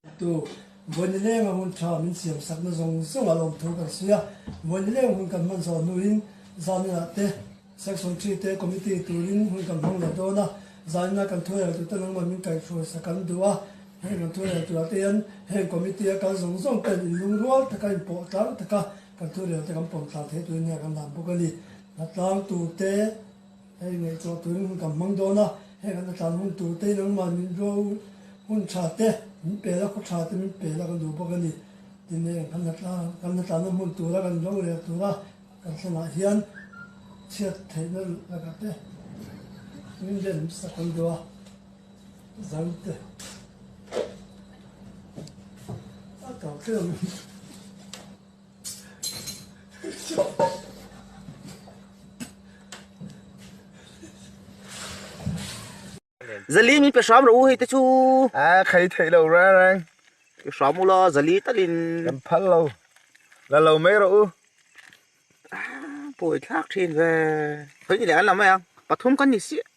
Atu, Vawinileng a hun tha min siam sakna zawng zawng a lawmthu kan sawi a, Vawinileng hun kan hman zawh hnuin zanina te, Section Three te Committee turin hun kan hmang leh dawn a, zanina kan thuheltu te nangmah min kaihhruaisa kan duh a, heng kan thuheltu ah te hian heng Committee a kal zawng zawng ten in lungrual taka in pawh tlang taka, Kan tuirelte kan pawm tla thei turin nge kan dan bawk a ni. Hla tlang tur te hei ngaihtuah turin hun kan hmang dawn a, heng an hla tlan hun tur te nangmah min ro hun tha te min pel a, khaw tha te min pel a kan duh bawk a ni. Tin heng kan hla tlang kan hla tlanna hmun tur a kan ro rel tur a kan thlenah hian chhiat theihna lakah te min remsak kan duh a. Zalte a tau tlem Zali mi pe sham ro hei te chu a khai thei lo ra rang shamula zali talin kan phal lo la lo mai ro u poi thlak thin ve hoi ni le an la mai ang pathum kan ni si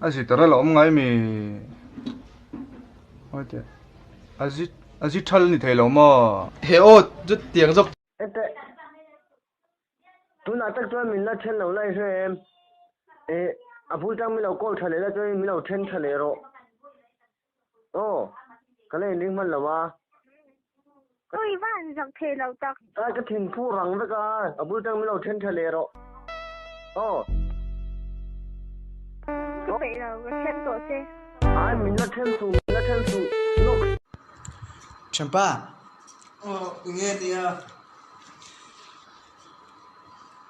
Azi tara la awm ngai mi Hoite Azi Azi thal ni thei lo maw He aw chu tiang zawk Ete Tunah tak chuan min la then lo lai hre em E a bul tang min lo call tha leh la chuan min lo then tha leh rawh. Oh, ka lei ning man lawa. Koi va an zak thei lo tak. Kai ka thin phu rang vek a, a bul tang min lo then tha leh rawh. Oh. Thu peih lo, ka chhem tawh che. Ai, min la chhem suh, min la chhem suh. Nox. Champa. Oh, nge nia.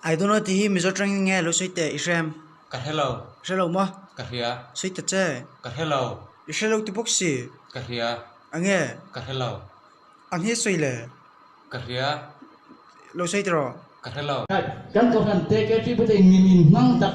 I don't know tihi mizo tang in nge a lo sawi teh i hrem? Ka hre lo. Hre lo maw? Ka hria. Sawi ta che. Ka hre lo. I hre lo ti bawk si. Ka hria. A nge? Ka hre lo. A nge sawi le? Ka hria. Lo sawi teh rawh. Ka hre lo. Kan cohlan te K3 pute in min inhmang tak.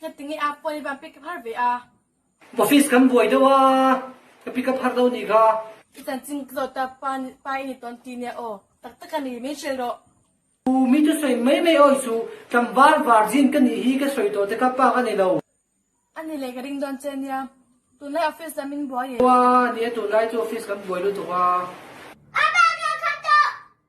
Heti nge a pawi va pick up har ve a. Office kan buai deuh a, ka pick up har deuh anih kha. I chan ching ka zawt a, pa ni pa i ni tawn ti nia aw, tak tak a ni, min hrilh rawh. Ooh, min chu sawi mai mai aw i suh, tlangval vargin ka nih hi ka sawi tawh te kha pa ka nei lo. A ni le, ka ring dawn che nia, tunlai office dah min buai e. Aw a nia, tunlai chu office kan buai lutuk a. A pa kha kham tawh.